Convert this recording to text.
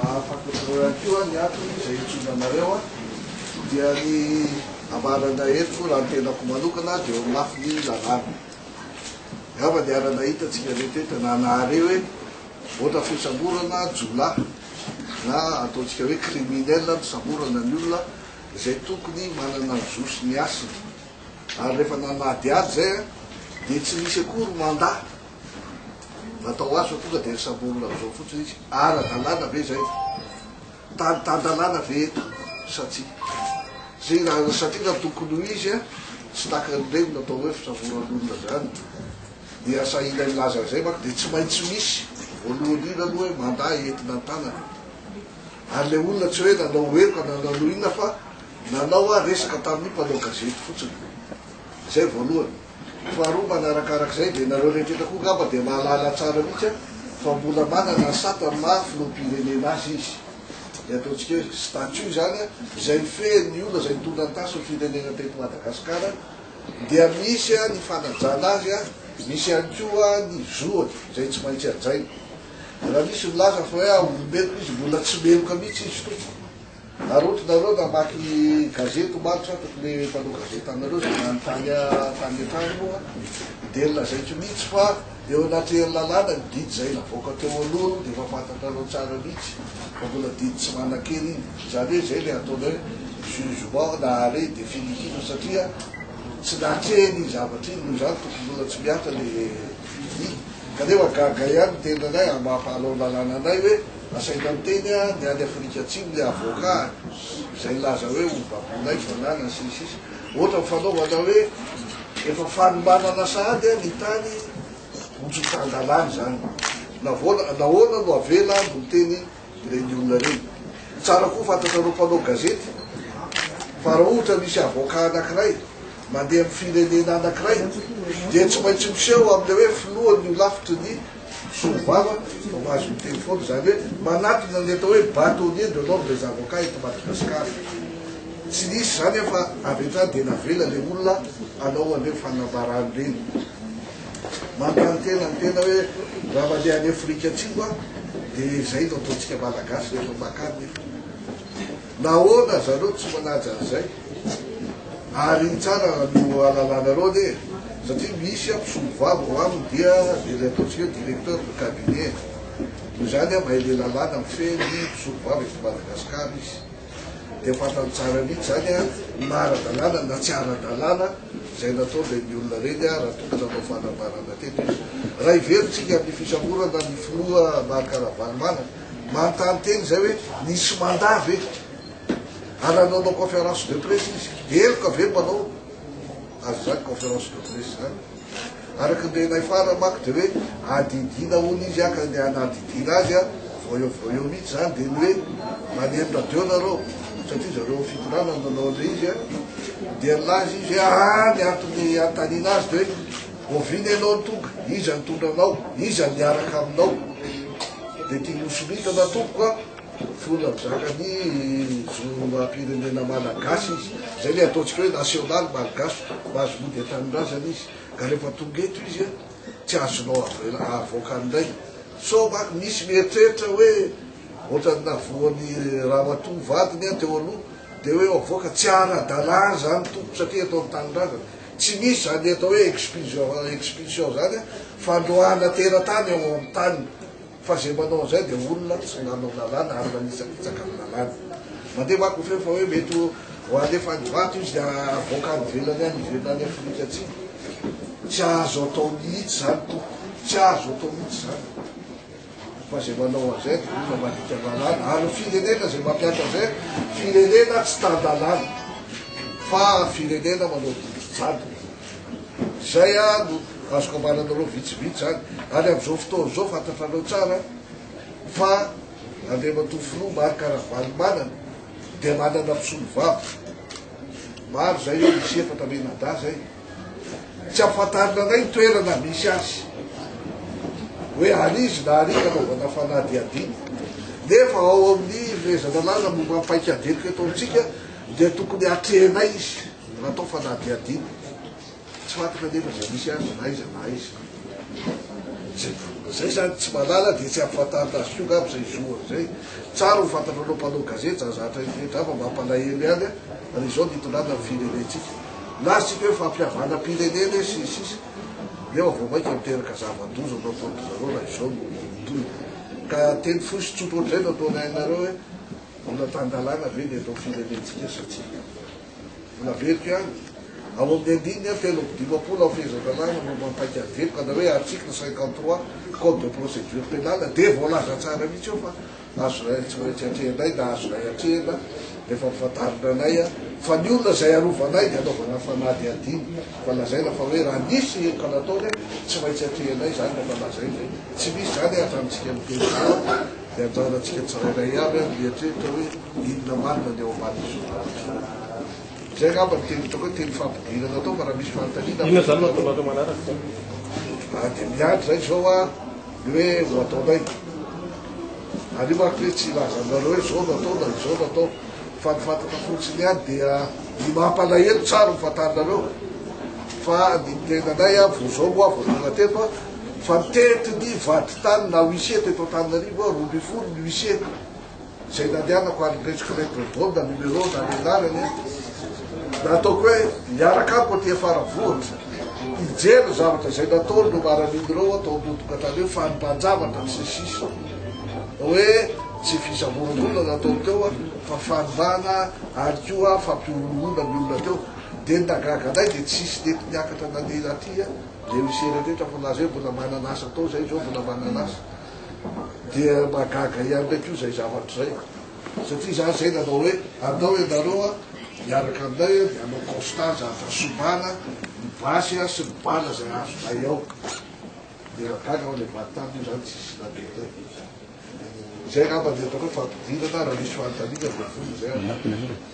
Ahafantatrareo ihany koa ny antony izay hijoroana anareo dia ny ambaranay eto raha ny tenako manokana dia eo amin'ny lafiny lalàna. Angamba niara-nahita antsika rehetra eto na nahare hoe ohatra fisamborana jiolahy na ataontsika hoe criminel ny samborana ny olona izay tokony manana ny zo sy ny hasiny. Ary rehefa nanadihady izay dia tsy nisy akory mandat. Natao asa tonga dia samborina amin'izao fotsiny izy. Ara-dalàna ve izay? Tany tan-dalàna ve eto sa tsia? Izay raha satria raha tokony ho izy tsy taka an'ireny natao hoe fisamboran'olona izany dia sahila milaza an'izay manko dia tsy maintsy misy voalohany indrindra aloha hoe mandà entina an-tanana. Ary ilay olona tsy hoe nanao heloka na nanao inona fa nanao resaka tamin'ny mpanao gazety fotsiny. Izay voalohany. Faharoa manarakarak'izay dia nareo rehetra eto koa ngamba dia mahalala tsara mihitsy an fa mbola manana sata amin'ny maha filoham-pirenena azy izy. Dia ataontsika hoe statut izany an, izay mifehy ny olona izay nitondra ny tasin'ny firenena teto Madagasikara dia misy an ny fanajana azy an, misy ihany koa an ny zoany izay tsy maintsy hajaina. Raha misy milaza fa hoe olombelona izy mbola tsy meloka mihitsy izy tompoko. Arotonareo namaky ny gazety omaly sa tokony le mpanao gazety anareo zay nanontany ahy tany an-trano moa dia lazaiko mihitsy fa eo anaty herilalàna ny didy izay navoaka teo alohany dia efa fantatrareo tsara mihitsy fa mbola didy tsy manan-kery iny izany hoe izay le ataonay jugement na arret définitif satria tsy natreha iny zavatra iny noho izany tokony mbola tsy mihatra le didy kanefa gaga ihany ny tenanay amin'ny maha mpanao lalàna anay hoe Nasaika niteny ny any Afrika Atsimo ilay avoka izay nilaza hoe ho baboinay ny fananany sy ny sisa Ohatra ny fanaovana hoe efa fanomanana sahady ny tany ho tsy tan-dalàna izany. Navoana, nahoana no avela no miteny ireny olona ireny. Tsara koa fantatrareo mpanao gazety fa raha ohatra misy avoka anankiray mandeha amin'ny firenena anankiray dia tsy maintsy miseho amin'ilay hoe filohan'ny holafitry ny Solo vava vao mahazo miteny foana, izany hoe manatona ny atao hoe bâtonnier de l'ordre des avocats eto Madagasikara. Tsy nisy izany aho fa avy hatrany dia navela ilay olona hanao an'ireny fanambarany ireny. Manontany tena ny tena hoe raha mandeha any Afrika Atsimo aho dia izay no ataontsika Malagasy rehefa makany nefa. Nahoana zareo tsy manaja an'izay? Ary ny tsara no halalanareo anie e. Satria misy an mpisolovava ao aminy dia dia ilay ataontsika hoe directeur de cabinet. Noho izany aho mahay ilay lalàna mifehy ny mpisolovava eto Madagasikara izy. Dia fantany tsara mihitsy izany an na ara-dalàna na tsy ara-dalàna izay nataon'ireny olona ireny an raha tokony hanao fanambarana teto izy. Raha heverintsika amin'ny fisamborana ny filoha Marc Ravalomanana Manontany teny izay hoe nisy mandat ve? Ary raha nanao conférence de presse izy, heloka ve mpanao azy izany conférence de presse izany? Araka ny renay farany manko dia hoe adidiana hono izy an, ka ny hanadidiana azy an, vao eo vao eo mihitsy izany dia ny hoe maneno radio nareo, satria zareo fitondrana no nanao an'ilay izy an, dia nilaza izy hoe aa ny antony hanontaniana azy dia hoe Oviana ianao no tonga? Iza nitondra anao? Iza niaraka aminao? Dia tia nosoritana tompoko a! Fona mizaka ny zom-pirenena malagasy izy. Izay ilay ataontsika hoe national malgache, mahazo mody an-tanindrazana izy. Ka rehefa tonga eto izy a, tsy azonao avoaka indray. Sao manko misy mieritreritra hoe ohatran'ny navoan'i ramatoa vadiny a teo aloha, dia hoe avoaka. Tsy ara-dalàna izany tompoko satria eto an-tanindrazana. Tsy misy izany atao hoe expulsion expulsion izany a, fandroahana teratany ao amin'ny tany, fa izay manao an'izay dia olona tsy nanao lalàna ary manitsakitsaka amin'ny lalàna. Mandeha manko ny feo fa hoe mety ho alefa any Ivato izy dia havoaka any ivelany any ivelona any Afrika Atsimo. Tsy azo atao mihitsy izany tompoko, tsy azo atao mihitsy izany. fa zay manao an'izay dia olona mandika lalàna ary ny firenena zay mampiatra an'izay firenena tsy tan-dalàna fa firenena manao didy jadona zay a no azoko ambaranareo vitsivitsy zany ary am'izao fotoana izao fantatrareo tsara fa andriamatoa filoha Marc Ravalomanana dia manana mpisolo vava maro zay hoe misy efatra menada zay Tsy ampahatarina indray ny toerana misy azy. Hoe ary izy na ary anaovana fanadihadiana. Nefa ao amin'ny fehezan-dalàna momba ny paikadiniko eto amintsika dia tokony hatrehinay izy raha atao fanadihadiana. Tsy fantatra nefa izay misy azy na iza na iza. Zay zany tsy malala dia tsy ampahatarina azy koa ngamba izay zohany izay. Tsara ho fantatrareo mpanao gazety zany zavatra izay rehetra fa mampalahelo ihany ary izao ny hitondrana ny firenentsika. Lazatsika hoe fampihavanam-pirenena e, sy ny sisa Nefa vao mainka miteraka zava-doza no ataon-dry zareo raha izao no tohiny. Ka teny fohy sy tsotra ohatr'izay no ataonay anareo hoe mbola tan-dalàna ve ny eto amin'ny firenentsika sa tsia? Mbola averiko ihany, ao amin'ny andininy telo amby dimampolo amin'ny fehezan-dalàna momba ny paik'ady eto ka na hoe article cinquante trois code de procédure pénale dia voalaza tsara mihitsy eo fa Azonay retraretra atrehinay na azonay atrehina rehefa mifantarina anay fa ny olona izay arovanay dia anaovana fanadihadiana fa lazaina fa hoe raha nisy heloka nataony tsy maintsy atrehinay izany rehefa lazaina hoe tsy misy izany hatramintsika miteny dia anjarantsika tsirairay avy ary mieritreritra hoe inona marina ny ao ambadin'izao zavatra izay angamba ny teny ataoko hoe teny fampidirana atao fa raha misy fanontaniana inona izany no ataonareo manaraka dia miandry izay izao a Ny hoe no ataonay. Ary manko hoe tsy hilaza aminareo hoe zao no atao na izao no atao. Fa ny fantatra fotsiny ihany dia ny mampalahelo tsara ny fantarinareo fa ny miteny anay aho vao zao moa vao tonga teto aho fa mitety ny vadintany na huissier teto Antananarivo aho roa ambin'ny folo ny huissier Izay nandehanako ary nipetraka ilay bordron na numéro na ny anarany dia ataoko hoe hiaraka amiko aty afara vohitra hijery ny zavatra izay nataony no maran'iny ireo atao ambodin-katrana eo fa nibanjavatra ny sesisa hoe tsy fisaboran'olona nataony teo fa fanimbana ary koa fampioronoana ny olona teo dia ny nagaga anay dia tsisy nety niakatra nandeha aty dia misy ereretra fa laza hoe mbola manana asa atao izay izao mbola manana asa Dia mahagaga ihany ndray koa izay zavatra izay satria za zay nanao hoe andao ianareo a hiaraka aminay a dia hanao constat za fa sombana ny basy a sy ny bala izay azonay ao dia nahagaga aho ilay vady taminy io zany tsisy nagetay izay angamba ny ataoko hoe fampidirana raha misy fanontaniana dia vonona izay aho